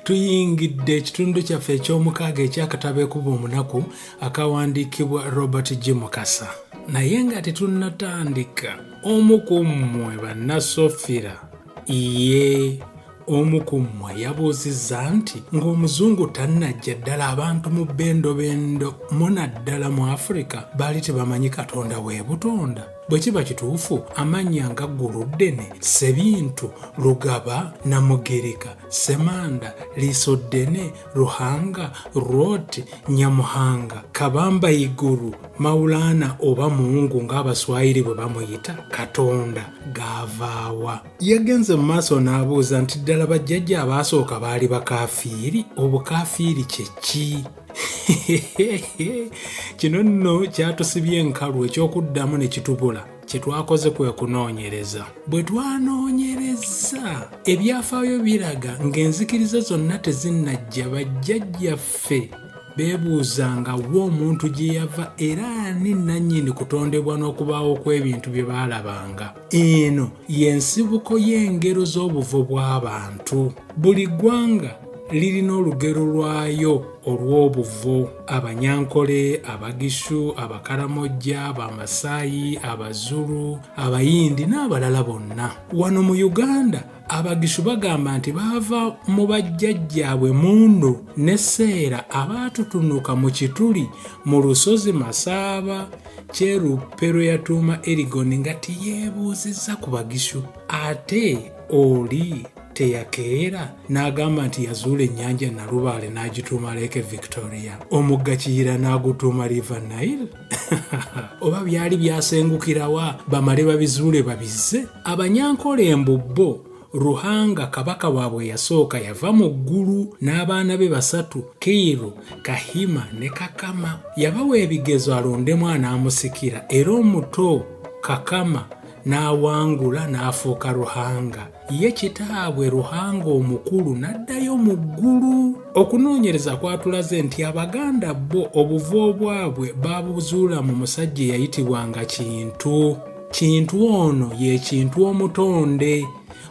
tuyingidde ekitundu kyaffe eky'omukaaga ekyakatabo ekuba omunaku akawandiikibwa robert g mukasa naye nga tetunnatandika omu ku mmwe bannasofira ye Omu ku mmwe yabuuzizza nti ng'Omuzungu tannajja ddala abantu mu bendobendo mu naddala mu Afirika baali tebamanyi Katonda w'e butonda? Bwe kiba kituufu, amannya nga Gguluddene, Ssebintu, Lugaba, Namugereka, Ssemanda, Liisoddene, Ruhanga, Rwot, Nyamuhanga, Kabamba Iguru, Maulana oba Mungu ng'Abaswayiri bwe bamuyita, Katonda, gaavaawa? Yagenze mu maaso n'abuuza nti ddala bajjajja abaasooka baali bakaafiiri? Obukaafiiri kye ki? Kino nno kyatusibye enkalu eky'okuddamu ne kitubula. kye twakoze kwe kunoonyereza bwe twanoonyereza ebyafaayo biraga ng'enzikiriza zonna tezinnajja bajjajjaffe beebuuzanga wa omuntu gye yava era ani nannyini kutondebwa n'okubaawo kw'ebintu bye baalabanga eno y'ensibuko y'engero z'obuvo bw'abantu buli ggwanga lirina olugero lwayo olw'obuvo abanyankole abagishu abakaramojja abamasaayi abazulu abayindi n'abalala bonna wano mu uganda Abagishu bagamba nti baava mu bajjajjaabwe Mundo ne Seera abaatutunuka mu kituli mu lusozi Masaaba Kyeruppe lwe yatuuma Erigoni nga teyeebuuzizza ku Bagishu ate oli teyakeera n'agamba nti yazuula ennyanja Nalubaale n'agituuma Lake Victoria, omugga Kiyira n'agutuuma River Nile. oba byali byasengukirawa bamale babizuule babizze abanyankole mbu bo ruhanga kabaka waabwe yasooka yava mu ggulu n'abaana be basatu kiiru kahima ne kakama yabawa ebigezo alondemu anaamusikira era omuto kakama n'awangula n'afuuka ruhanga ye kitaabwe Ruhanga omukulu n'addayo mu ggulu. Okunoonyereza kwatulaze nti Abaganda bo obuvo obwabwe baabuzuula mu musajja eyayitibwanga Kintu. Kintu ono ye Kintu omutonde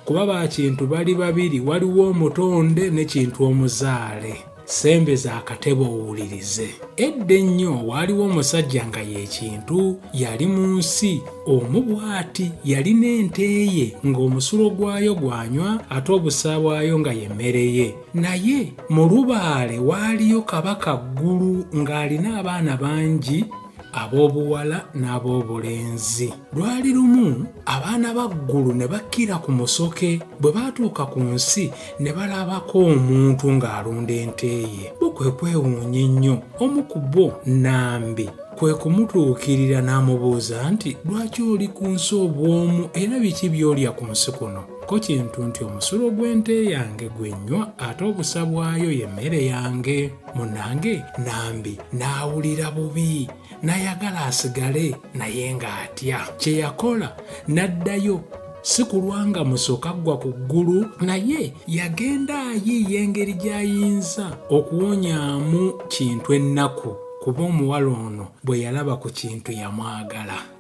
kuba ba Kintu bali babiri waliwo omutonde ne Kintu omuzaale. sembeza akatebe owulirize edda ennyo waaliwo omusajja nga yekintu yali mu nsi omu bw'ati yalina ente ye ng'omusulo gwayo gwanywa ate obusa bwayo nga yemmere ye naye mu lubaale waaliyo kabaka ggulu ng'alina abaana bangi ab'obuwala n'ab'obulenzi lwali lumu abaana ba ggulu ne bakkira ku musoke bwe baatuuka ku nsi ne balabako omuntu ng'alunda ente ye bo kwe kwewuunya ennyo omu ku bo nambi kwe kumutuukirira n'amubuuza nti lwaki oli ku nsi obw'omu era biki by'olya ku nsi kuno ko kintu nti omusulo gw'ente yange gwe nnywa ate obusa bwayo ye mmere yange munange nambi n'awulira bubi n'ayagala asigale naye ng'atya kye yakola n'addayo si kulwa nga musoka ggwa ku ggulu naye yagenda ayiiya engeri gy'ayinza okuwonyamu kintu ennaku kuba omuwala ono bwe yalaba ku kintu yamwagala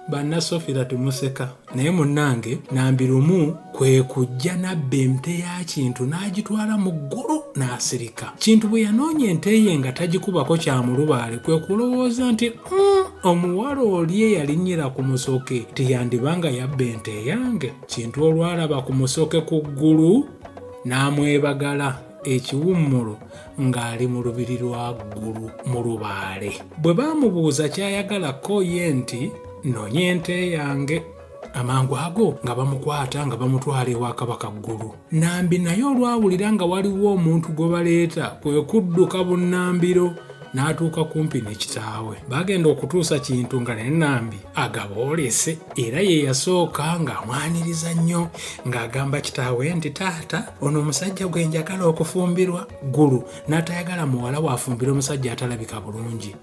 bannasofira tumuseka naye munnange nambi lumu kwe kujja nabba emte ya kintu n'agitwala mu ggulu n'asirika kintu bwe yanoonya ente ye nga tagikubako kya mulubaale kwe kulowooza nti mm, omuwala oli eyalinnyira ku musoke tiyandiba nga yabba ente eyange kintu olwalaba ku musoke ku ggulu n'amwebagala ekiwummulo ng'ali mu lubiri lwa ggulu mu lubaale bwe baamubuuza ky'ayagala ko ye nti nonya ente yange amangu ago nga bamukwata nga bamutwala ewa kabaka ggulu nambi naye olwawulira nga waliwo omuntu gwe baleeta kwe kudduka bunnambiro n'atuuka kumpi ne kitaawe bagenda okutuusa kintu nga ne nambi agaboolese era ye yasooka ng'amwaniriza nnyo ng'agamba kitaawe nti taata ono omusajja gwe njagala okufumbirwa ggulu n'atayagala muwala waafumbira omusajja atalabika bulungi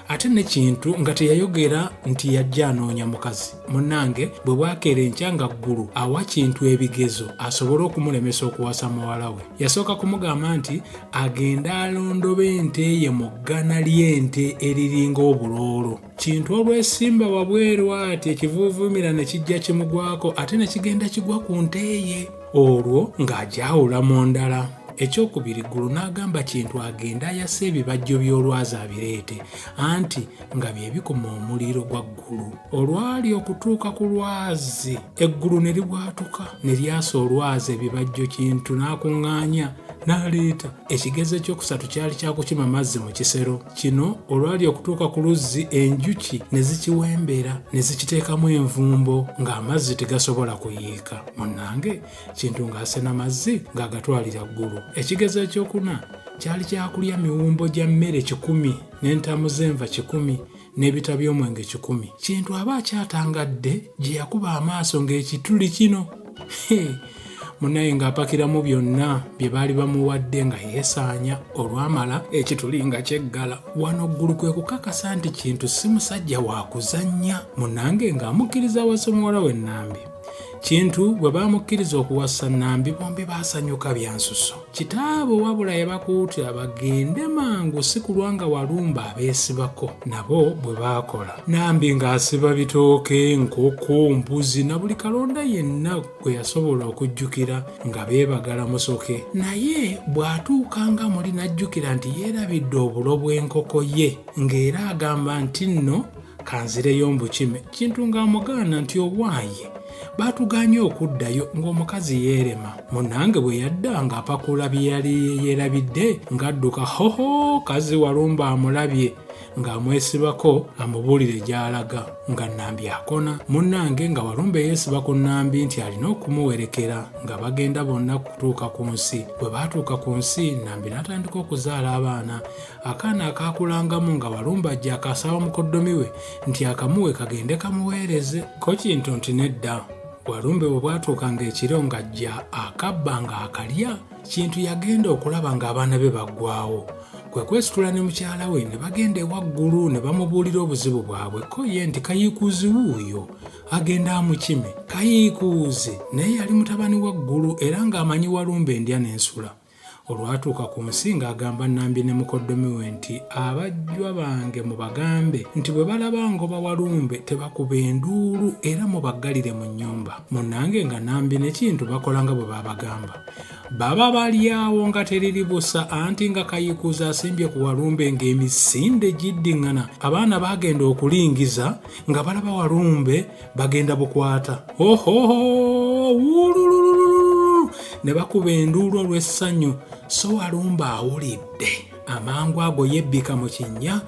ate nekintu nga teyayogera nti yajja anoonya mukazi munange bwe bwakeera enkya nga ggulu awa kintu ebigezo asobole okumulemesa okuwasa muwala we yasooka kumugamba nti agende alondoba ente ye mu ggana ly'ente eriringa obuloolo kintu olwesimba wabweru ati ekivuuvuumira ne kijja kimugwako ate ne kigenda kigwa ku nteeye olwo ng'agyawula mu ndala ekyokubiri ggulu n'agamba kintu agende ayase ebibajjo by'olwazi abireete anti nga bye bikuma omuliro gwa ggulu olwali okutuuka ku lwazi eggulu ne libwatuka ne lyasa olwazi ebibajjo kintu n'akuŋŋaanya n'aleeta Ekigezo ekyokusatu kyali kya kukima mazzi mu kisero. Kino olwali okutuuka ku luzzi enjuki ne zikiwembera ne zikiteekamu envumbo ng'amazzi tegasobola kuyiika. Munnange Kintu ng'asena mazzi ng'agatwalira ggulu. Ekigezo ekyokuna kyali kya kulya miwumbo gya mmere kikumi n'entamu z'enva kikumi n'ebita by'omwenge kikumi kintu aba akyatangadde gye yakuba amaaso ng'ekituli kino munaye ng'apakiramu byonna bye baali bamuwadde nga yeesaanya olwamala ekituli nga kyeggala wano ggulu kwe kukakasa nti kintu si musajja wa kuzannya munange ng'amukkiriza awasa omuwala w'ennambi kintu bwe baamukkiriza okuwasa nnambi bombi baasanyuka byansuso kitaabwe wabula yabakuutira bagende mangu si kulwa nga walumba abeesibako nabo bwe baakola nambi ng'asiba bitooke nkoko mbuzi na buli kalonda yenna gwe yasobola okujjukira nga beebagala musoke naye bw'atuuka nga muli n'ajjukira nti yeerabidde obulo bw'enkoko ye ng'era agamba nti nno kanzireyo mbukime kintu ng'amugaana nti owaaye baatuganye okuddayo ng'omukazi yeerema munange bwe yadda ng'apakula bye yali yeerabidde ng'adduka hoho kazi walumba amulabye ng'amwesibako amubuulire gy'alaga nga nnambi akona munnange nga walumba eyeesiba ku nnambi nti alina okumuwerekera nga bagenda bonna kutuuka ku nsi bwe baatuuka ku nsi nnambi n'atandika okuzaala abaana akaana akaakulangamu nga walumbajja akaasaba mukoddomi we nti akamuwe kagende kamuweereze ko kintu nti nedda walumbe bwe bwatuukanga ekiro ng'ajja akabba nga akalya kintu yagenda okulaba ng'abaana be baggwawo kwe kwesitula ne mukyala we ne bagenda ewaggulu ne bamubuulira obuzibu bwabwe ko ye nti kayiikuuzi wuuyo agenda amukime kayiikuuzi naye yali mutabani waggulu era ng'amanyi walumbe endya n'ensula olwatuuka ku nsi ng'agamba Nambi ne mukoddomi we nti abajjwa bange mubagambe nti bwe balaba ngoba walumbe tebakuba enduulu era mubaggalire mu nnyumba munnange nga Nambi ne Kintu bakola nga bwe baabagamba baba balyawo nga teriri busa anti nga kayikuuza asimbye ku walumbe ng'emisinde gidding'ana abaana baagenda okulingiza nga balaba walumbe bagenda bukwata ne bakuba enduulu olw'essanyu so walumba awulidde amangu ago yebbika mu kinnya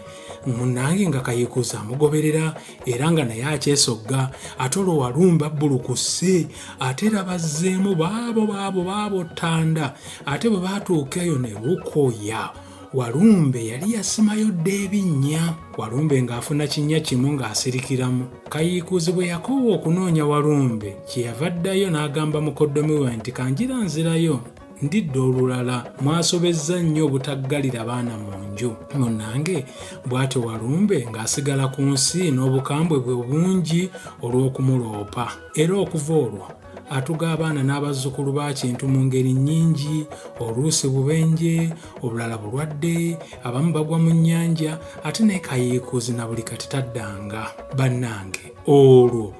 munange nga kayikuza amugoberera era nga naye akyesogga ate olwo walumba bbulukuse ate era bazzeemu baabo baabo baabo ttanda ate bwe baatuuka eyo ne bukoya Walumbe yali yasimayo dda ebinnya. Walumbe ng'afuna kinnya kimu ng'asirikiramu. Kayiikuuzi bwe yakoowa okunoonya Walumbe kye yava addayo n'agamba mukoddomi we nti kanjira nzirayo ndidde olulala mwasobezza nnyo obutaggalira baana mu nju munnange bw'atyo walumbe ng'asigala ku nsi n'obukambwe bwe bungi olw'okumuloopa era okuva olwo atuga abaana n'abazzukulu ba kintu mu ngeri nnyingi oluusi bubenje obulala bulwadde abamu bagwa mu nnyanja ate naye kayiikuuzi na buli kati taddanga bannange olwo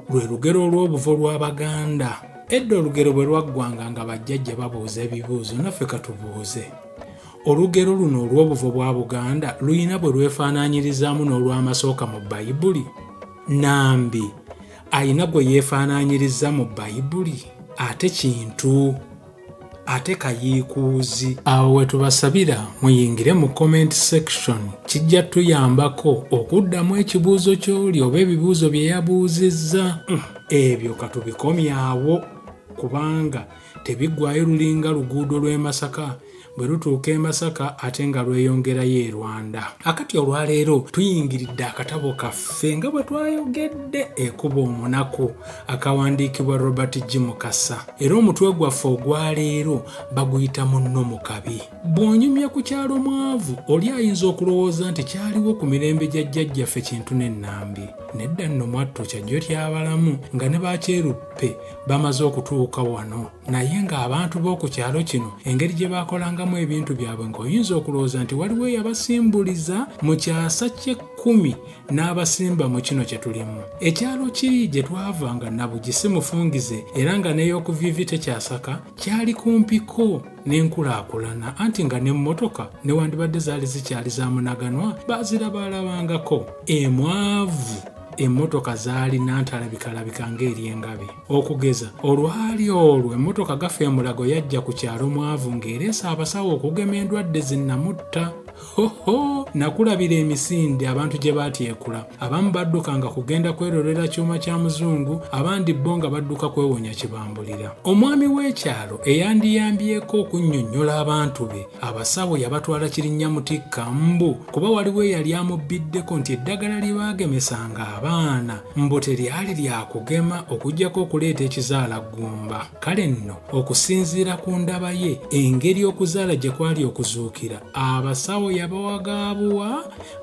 lwe lugero olw'obuvo lw'abaganda edda olugero bwe lwaggwanga nga bajjajja babuuza ebibuuzo naffe katubuuze olugero luno olw'obuvo bwa buganda lulina bwe lwefaanaanyirizaamu n'olw'amasooka mu bayibuli nambi alina gwe yeefaanaanyiriza mu Bayibuli? Ate Kintu? Ate Kayiikuuzi? Awo we tubasabira muyingire mu comment section. Kijja tuyambako okuddamu ekibuuzo ky'oli oba ebibuuzo bye yabuuzizza. Hmm, ebyo katubikomyawo kubanga tebiggwaayo lulinga luguudo lw'e Masaka bwe lutuuka e Masaka ate nga lweyongerayo e Rwanda. Akati olwaleero tuyingiridde akatabo kaffe nga bwe twayogedde ekuba omunaku akawandiikibwa Robert G. Mukasa era omutwe gwaffe ogwaleero baguyita munno mu kabi. Bw'onyumya ku kyalo mwavu oli ayinza okulowooza nti kyaliwo ku mirembe gya jjajjaffe kintu n'ennambi. Nedda nno mwattu kyajjo ky'abalamu nga ne bakyeruppe bamaze okutuuka wano naye ng'abantu b'oku kyalo kino engeri gye baakolangamu ebintu byabwe ng'oyinza okulowooza nti waliwo eyabasimbuliza mu kyasa ky'ekkumi n'abasimba mu kino kye tulimu ekyalo kiri gye twava nga nabugi si mufungize era nga n'ey'okuviivi tekyasaka kyali kumpiko n'enkulaakulana anti nga n'emmotoka newandibadde zaali zikyali za munaganwa baazirabaalabangako emwavu emmotoka zaali nantalabikaalabika ng'eri engabi okugeza olwali olwo emmotoka gafa emulago yajja ku kyalo mwavu ng'ereesa abasawo okugema endwadde zinnamutta hoho nakulabira emisinde abantu gye baatyekula abamu baddukanga kugenda kwerolera kyuma kya muzungu abandi bo nga badduka kwewonya kibambulira omwami w'ekyalo eyandiyambyeko okunnyonnyola abantu be Abasawo yabatwala Kirinnyamutikka mbu kuba waliwo eyali amubbiddeko nti eddagala lye baagemesanga abaana mbu teryali lya kugema okuggyako okuleeta ekizaalaggumba. Kale nno okusinziira ku ndaba ye engeri okuzaala gye kwali okuzuukira, abasawo yabawaga abuwa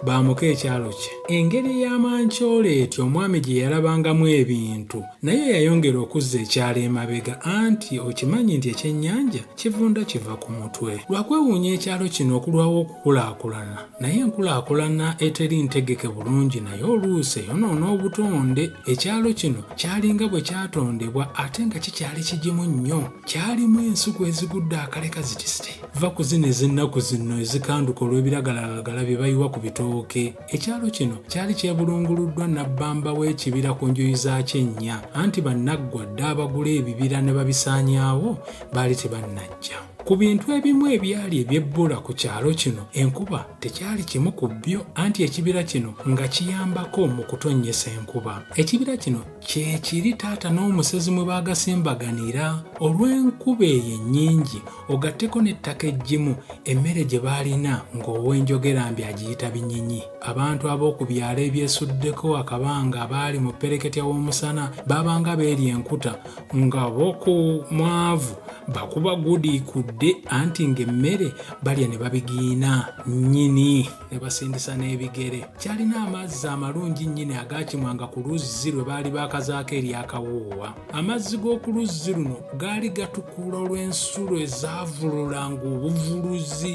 baamuke ekyalo kye. Engeri ya mancola etyo omwami gye yalabangamu ebintu naye yayongera okuzza ekyalo emabega anti okimanyi nti ekyennyanja kivunda kiva ku mutwe lwakwewuunya ekyalo kino okulwawo okukulaakulana naye enkulaakulana eteri ntegeke bulungi naye oluusi eyonoona obutonde ekyalo kino kyalinga bwe kyatondebwa ate nga kikyali kigimu nnyo kyalimu ensuku ezigudde akaleka zitisite va ku zino ez'ennaku zino ezikanduka olw'ebiragalalagala bye bayiwa ku bitooke Ekyalo kino kyali kyebulunguluddwa nabbamba w'ekibira ku njuyi zaakyo ennya, anti bannaggwa dda abagula ebibira ne babisaanyaawo baali tebannajja. Ku bintu ebimu ebyali ebyebbula ku kyalo kino enkuba tekyali kimu ku byo, anti ekibira kino nga kiyambako mu kutonnyesa enkuba. Ekibira kino kye kiri taata n'omusezi mwe baagasembaghanira. Olw'enkuba eyo ennyingi, ogatteko n'ettaka eggimu emmere gye baalina ng'owenjogera mbi agiyita binyinyi abantu ab'oku byalo ebyesuddeko akabanga abaali mu ppereketya w'omusana baabanga beeri enkuta nga boku mwavu bakuba gudi kudde anti ng'emmere balya ne babigiina nnyini ne basindisa n'ebigere kyalina amazzi amalungi nnyini agaakimwanga ku luzzi lwe baali baakazaako eryakawoowa amazzi g'oku luzzi luno gaali gatukula olw'ensulo ezaavululanga obuvuluzi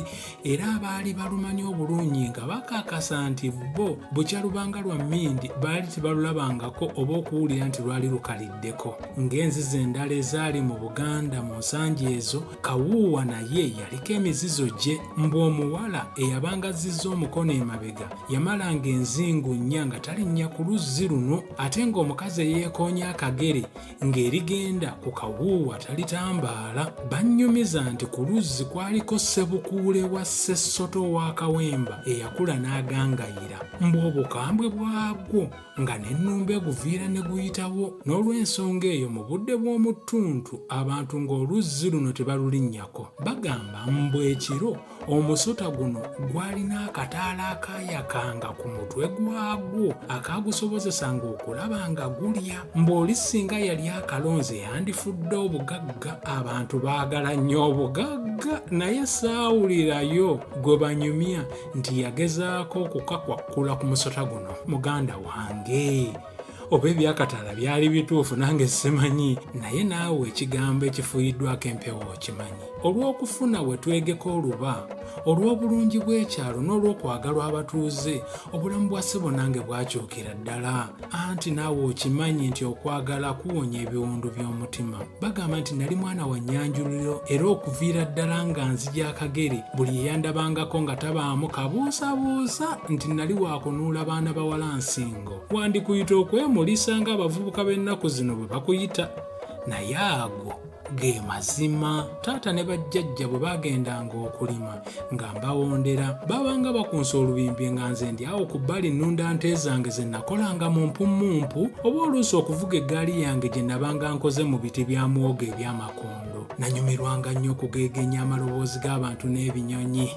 era abaali balumanyi obulungi nga bakakasa nti bo bukya lubanga lwa mmindi baali tebalulabangako oba okuwulira nti lwali lukaliddeko ng'enzizi endala ezaali mu buganda mu nsangi ezo Kawuuwa naye yaliko emizizo gye mbu omuwala eyabanga azzizza omukono emabega yamalanga enzingu nnya nga talinnya ku luzzi luno ate ng'omukazi eyeekoonya akagere ng'erigenda ku kawuuwa talitambaala bannyumiza nti ku luzzi kwaliko ssebukuule wa ssessoto wa kawemba eyakula n'agangayira mbu obukambwe bwagwo nga n'ennumbe guviira ne guyitawo n'olw'ensonga eyo mu budde bw'omu ttuntu abantu ng'oluzzi luno tebalulinnyako bagamba mbu ekiro omusota guno gwalina akataala akaayakanga ku mutwe gwagwo akaagusobozesanga okulaba nga gulya mbw'oli singa yali akalonze yandifudde obugagga abantu baagala nnyo obugagga naye saawulirayo gwe banyumya nti yagezaako okukakwakkula ku musota guno muganda wange oba ebyakatala byali bituufu nange simanyi naye naawe ekigambo ekifuyiddwako empewo okimanyi olw'okufuna we twegeka oluba olw'obulungi bw'ekyalo n'olw'okwagalwa abatuuze obulamu bwa ssebo nange bwakyukira ddala anti naawe okimanyi nti okwagala kuwonya ebiwundu by'omutima bagamba nti nali mwana wa nnyanjuliro era okuviira ddala nga nzija akagere buli eyandabangako nga tabaamu kabuusabuusa nti nali wakunuula baana bawala nsingo wandikuyita okwemulisa ng'abavubuka b'ennaku zino bwe bakuyita naye ago ge mazima taata ne bajjajja bwe baagendanga okulima nga mbawondera babanga bakunsa olubimbi nga nze ndi awo ku bbali nnunda nte zange ze nakolanga mu mpummumpu oba oluusi okuvuga eggaali yange gye nabanga nkoze mu biti bya mwoga eby'amakondo nanyumirwanga nnyo okugeegenya amaloboozi g'abantu n'ebinyonyi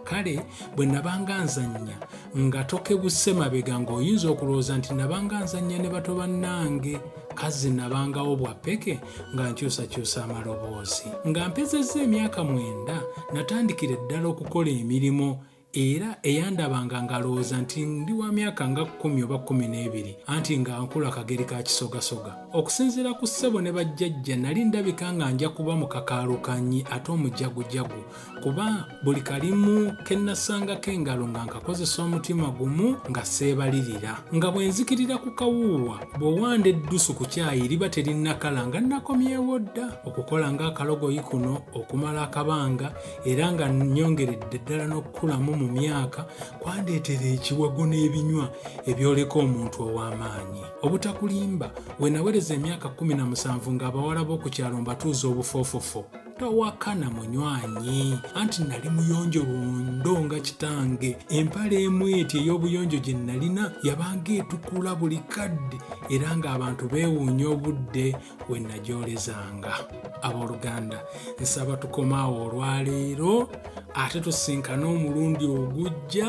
kale bwe nabanga nzannya nga tokebuse mabega ng'oyinza okulowooza nti nabanga nzannya ne bato bannange kazzi nabangawo bwa peke nga nkyusakyusa amaloboozi nga mpezezza emyaka mwenda natandikira eddala okukola emirimu era eyandabanga ngalowooza nti ndi wa myaka nga kkumi oba kkumi n'ebiri anti nga nkula kageri ka kisogasoga okusinziira ku ssebo ne bajjajja nali ndabika nga nja kuba mu kakaalukanyi ate omujagujagu kuba buli kalimu ke nnasangako engalo nga nkakozesa omutima gumu nga seebalirira nga bwe nzikirira ku kawuuwa bw'owanda eddusu ku kyayi liba terinnakala nga nnakomyewo dda okukola ng'akalogoyi kuno okumala akabanga era nga nnyongeredde ddala n'okukulamu mu myaka kwandeetera ekiwago n'ebinywa ebyoleka omuntu ow'amaanyi obutakulimba we nawereza emyaka 17 ng'abawala b'oku kyalo mbatuuza obufoofofo tawakana munywanyi anti nali muyonjo lundo nga kitange empala emu eti ey'obuyonjo gye nalina yabanga etukula buli kadde era ng'abantu beewuunya obudde we nagyolezanga abooluganda nsaba tukomaawo olwaleero ate tusinkane omulundi ogujja